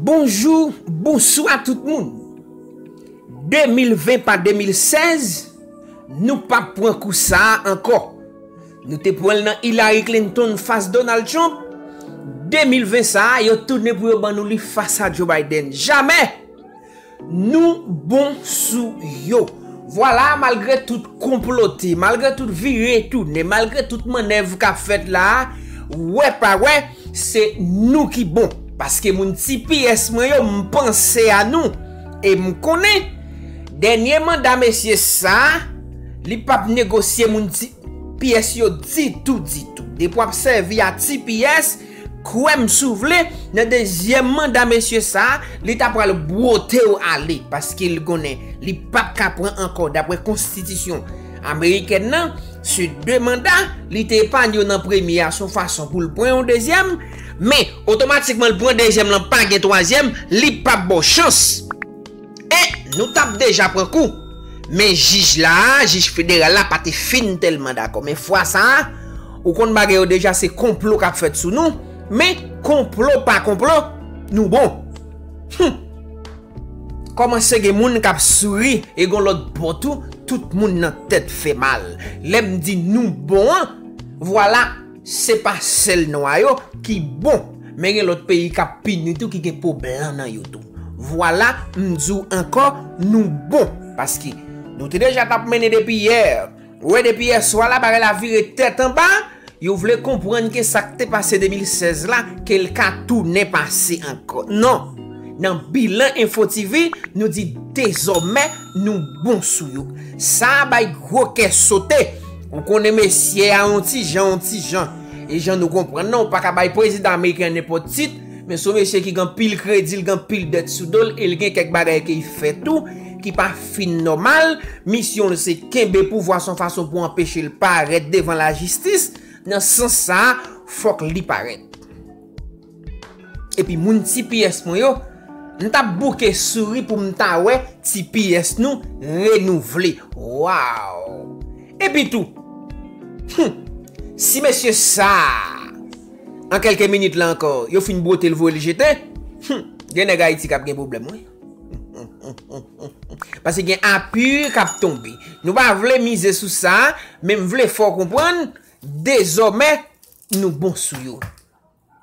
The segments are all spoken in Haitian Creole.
Bonjou, bonswa tout moun. 2020 pa 2016, nou pap pran kou sa a ankò. Nou te pran l nan Hillary Clinton fas Donald Trump, 2020 sa a yo tounen pou yo ban nou li fas a Joe Biden. Jamè! Nou bon sou yo. Vwala malgre tout konplote, malgre tout vire tounen, malgre tout mannèv k ap fèt la a, wè pa wè, se nou ki bon. Paske moun tps mwen yo, m panse a nou. E m konnen, dènye manda mesye sa a, li p ap negosye moun tps yo ditou ditou. Depi w ap sèvi a tps. Kwèm si w vle nan dezyèm manda mesye sa li ta pral bwote w ale paske li konnen li pap ka pran ankò daprè konstitisyon amerikèn nan se 2 manda li te epanye w nan premye a son fason pou l pran yon dezyèm men otomatikman l pran dezyèm lan pa gen twazyèm li pap ba w chans. Eh nou tap deja pran kou. Men jij la a, jij federal la pa te fin tèlman dakò. Men fwa sa a, ou konn bagay yo deja se konplo kap fèt sou nou. Men konplo pa konplo, nou bon. Hum! Kòmanse gen moun kap souri e gon lòt bò tou, tout moun nan tèt fè mal. Lè m di nou bon an, vwala. Se pa sèl nwa yo ki bon men gen lòt peyi kap pini tou ki gen po blan nan yo tou. Vwala m di w ankò nou bon paske nou te deja tap mennen depi yè. Ou wè depi yè swa la bagay la vire tèt anba, yo vle konprann ke sa k te pase 2016 la ke l ka tounen pase ankò. Non, nan bilan Info TV nou di dezòmè nou bon sou yo. Sa bay gwo kè sote. Ou konnen mesye a yon ti jan, yon ti jan. E jan nou konprann nan, ou pa ka bay prezidan ameriken an nenpòt tit, men se yon mesye ki gen anpil kredi, li gen anpil dèt sou do l, e li gen kèk bagay ke li fè tou, ki pa fin nòmal. Misyon l se kenbe pouvwa se yon fason pou anpeche l parèt devan lajistis. Nan sans sa a, fòk li parèt. Epi moun tps mwen yo, m tap bouke souri pou m ta wè tps nou renouvle. Waw! Epi tou, hum! Si mesye sa a, an kelke minit la ankò, yo fin bwote l voye l jete, hum! Gen nèg Ayiti kap gen pwoblèm wi. Pase gen apu kap tonbe. Nou pa vle mize sou sa, men m vle fè w konprann, dezòmè nou bon sou yo.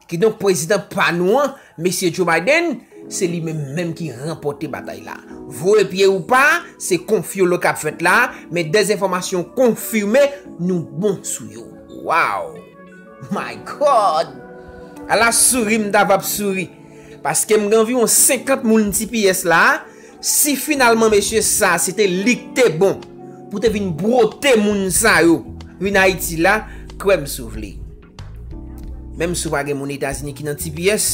Kidonk prezidan pa nou an, Mesye Joe Biden, se li menm menm ki ranpòte batay la. Voye pye ou pa, se konfyolo k ap fèt la, men dezenfòmasyon konfime nou bon sou yo. Waww! My God! Ala souri m ta vap souri! Paske m gen anviwon 50 moun tps la, si finalman mesye sa se te li k te bon pou te vin bwote moun sa yo vin Ayiti la, kwè m si w vle. Menm si w pa gen moun Etazini ki nan tps,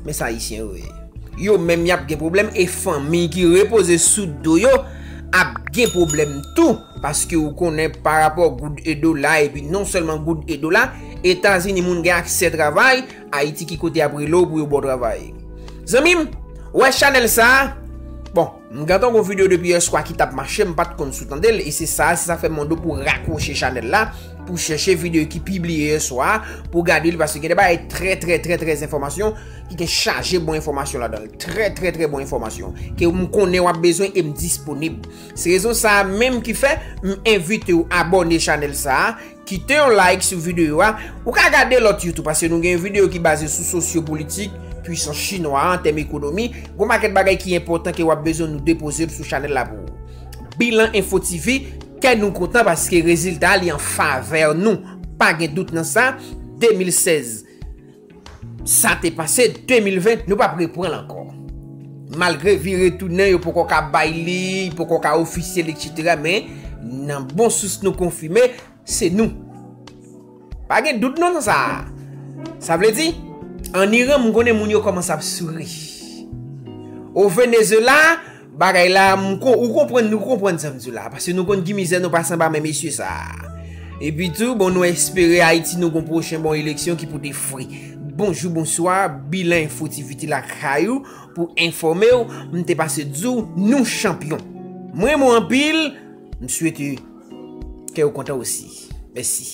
men sa Ayisyen yo ye. Yo menm y ap gen pwoblèm e fanmi ki repoze sou do yo ap gen pwoblèm tou paske ou konnen pa rapò goud e dola epi non sèlman goud e dola, Etazini moun gen aksè travay, Ayiti ki kote y ap rele w pou yo ba w travay? Zanmi m, wè chanèl sa a? Bon, M gentan gon video depi yè swa ki tap mache m pat konn sou tande l e se sa se sa fè m mande w pou w rakwoche chanèl la pou w chèche video ki pibliye yè swa pou w gade l paske gen de bagay trè trè trè trè enfòmasyon ki gen chaje bon enfòmasyon ladan l trè trè trè bon enfòmasyon ke m konnen wap bezwen e m disponib se rezon sa menm ki fè m envite w abòne chanèl sa Kite yon like sou videyo a. Ou ka gade lòt yo tou paske nou gen yon videyo ki baze sou sosyopolitik, pwisans chinwa a an tèm ekonomi. Gon pakèt bagay ki enpòtan ke w ap bezwen nou depoze l sou chanèl la pou ou. Bilan Info TV, kè nou kontan paske rezilta li an favè nou. Pa gen dout nan sa, 2016. Sa te pase 2020, nou pap repranl ankò. Malgre vire tounen yo poko ka bay li, poko ka ofisyèl etc. Men, nan bon sous nou konfime, se nou. Pa gen dout non nan sa a. Sa vle di, an Iran m konnen moun yo kòmanse ap souri. O Venezela, Bagay la ou konprann nou konprann sa m di w la paske nou konn ki mizè nou pase anba men mesye sa epi tou bon nou espere ayiti nou gon pwochen bon eleksyon ki pote fri bonjou bonswa bilan enfo tv te lakay ou pou enfòme w m te pase di w nou chanpyon m renmen w anpil m swete kè w kontan osi mèsi.